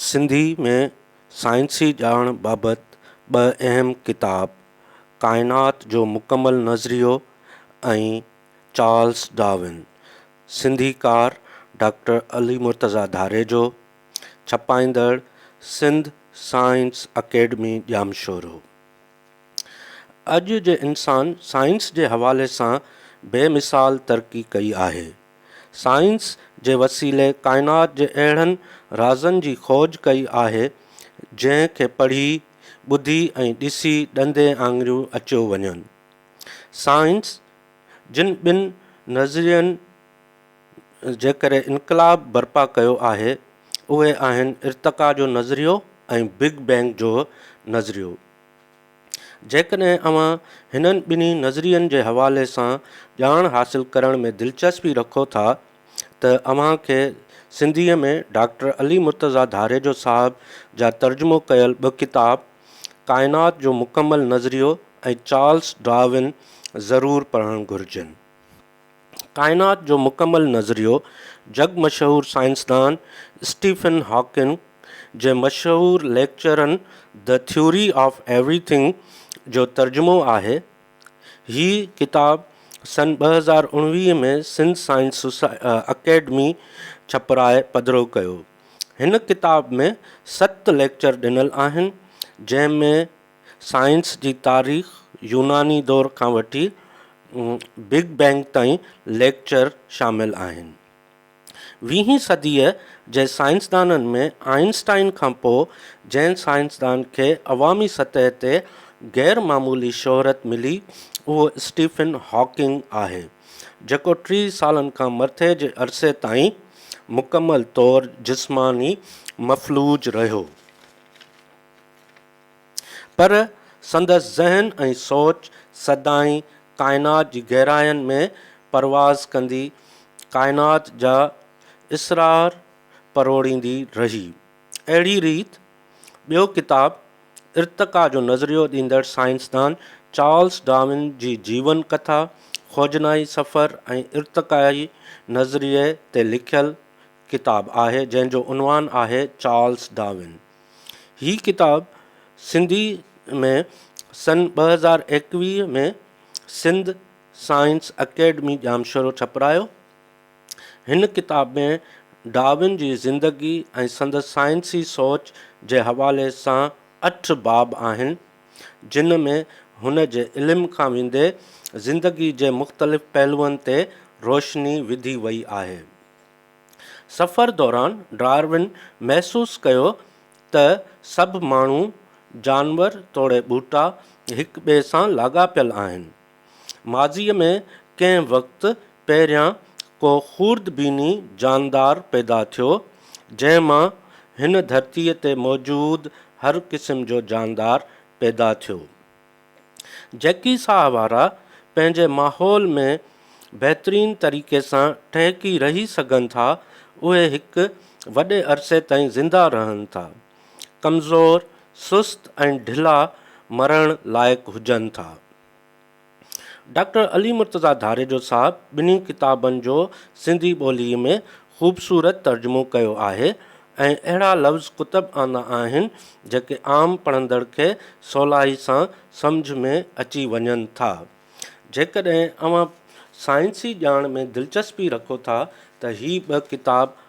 سنڌي ۾ سائنسي ڄاڻ بابت ٻه اهم ڪتاب ڪائنات جو مڪمل نظريو ۽ چارلس ڊارون، سنڌيڪار ڊاڪٽر علي مرتضيٰ ڌاريجو، ڇپائيندڙ سنڌ سائنس اڪيڊمي ڄامشورو. اڄ جي انسان سائنس جي حوالي سان بي مثال ترقي ڪئي آهي. سائنس جي وسيلي ڪائنات جي اهڙن رازن جي کوج ڪئي آهي جنهن کي پڙهي، ٻڌي ۽ ڏسي ڏندي آڱريون اچيو وڃن. سائنس جن ٻن نظرين، جيڪڏهن انقلاب برپا ڪيو آهي اهي آهن ارتقا جو نظريو ۽ بگ بينگ جو نظريو. جيڪڏهن اوهان هنن ٻنهي نظرين جي حوالي سان ڄاڻ حاصل ڪرڻ ۾ دلچسپي رکو ٿا ته اوهان کي سنڌيء ۾ ڊاڪٽر علي مرتضيٰ ڌاريجو صاحب جا ترجمو ڪيل ٻه ڪتاب ڪائنات جو مڪمل نظريو ۽ چارلس ڊارون ضرور پڙهڻ گهرجن. ڪائنات جو مڪمل نظريو جڳ مشهور سائنسدان اسٽيفن هاڪن جي مشهور ليڪچرن The Theory of Everything جو ترجمو آهي. هي ڪتاب سن ٻه هزار اڻويهه ۾ سنڌ سائنس اڪيڊمي ڇپرائي پڌرو ڪيو. هن ڪتاب ۾ ست ليڪچر ڏنل آهن، جنهن ۾ سائنس جي تاريخ، يوناني دور کان وٺي بگ بينگ تائين ليڪچر شامل آهن. ويهين صديء جي سائنسدانن ۾ آئنسٽائن کان پوء جنهن سائنسدان کي عوامي سطح تي غير معمولي شهرت ملي اهو اسٽيفن هاڪنگ آهي جيڪو ٽي سالن کان مٿي جي عرصي تائين مڪمل طور جسماني مفلوج رهيو. پر سندس ذهن ۽ سوچ سدائين ڪائنات جي گهراين ۾ پرواز ڪندي ڪائنات جا اسرار پروڙيندي رهي. اهڙي ريت ٻيو ڪتاب ارتقا جو نظريو ڏيندڙ سائنسدان چارلس ڊارون جي جيون ڪٿا، خوجنائي سفر ۽ ارتقائي نظريي تي لکيل ڪتاب آهي جنهن جو عنوان آهي چارلس ڊارون. هي ڪتاب سنڌي ۾ سن ٻه هزار ايڪويهه ۾ سنڌ سائنس اڪيڊمي ڄامشورو ڇپرايو. هن ڪتاب ۾ ڊارون جي زندگي ۽ سندس سائنسي سوچ جي حوالي سان اٺ باب آهن جن ۾ هن جي علم کان ويندي زندگي جي مختلف پهلوئن تي روشني وڌي وئي آهي. سفر دوران ڊارون محسوس ڪيو ته سڀ ماڻهو، جانور توڙي ٻوٽا هڪ ٻئي سان لاڳاپيل آهن. ماضيء ۾ ڪنهن وقت پهريان ڪو خوردبيني جاندار پيدا ٿيو، جنهن مان هن ڌرتيء تي موجود هر قسم جو جاندار پيدا ٿيو. جيڪي ساهه وارا پنهنجي ماحول ۾ بهترين طريقي سان ٽهڪي رهي سگهن ٿا، اهي هڪ وڏي عرصي تائين زنده رهن ٿا. ڪمزور، سست ۽ ڍلا مرڻ لائق هجن ٿا. ڊاڪٽر علي مرتضيٰ ڌاريجو صاحب ٻنهي ڪتابن جو سنڌي ٻوليء ۾ خوبصورت ترجمو ڪيو آهي ۽ اهڙا لفظ ڪتب آندا آهن جيڪي عام پڙهندڙ کي سولائي سان سمجهه ۾ اچي وڃن ٿا. جيڪڏهن اوهان سائنسي ڄاڻ ۾ دلچسپي رکو ٿا ته هي ٻه ڪتاب آء.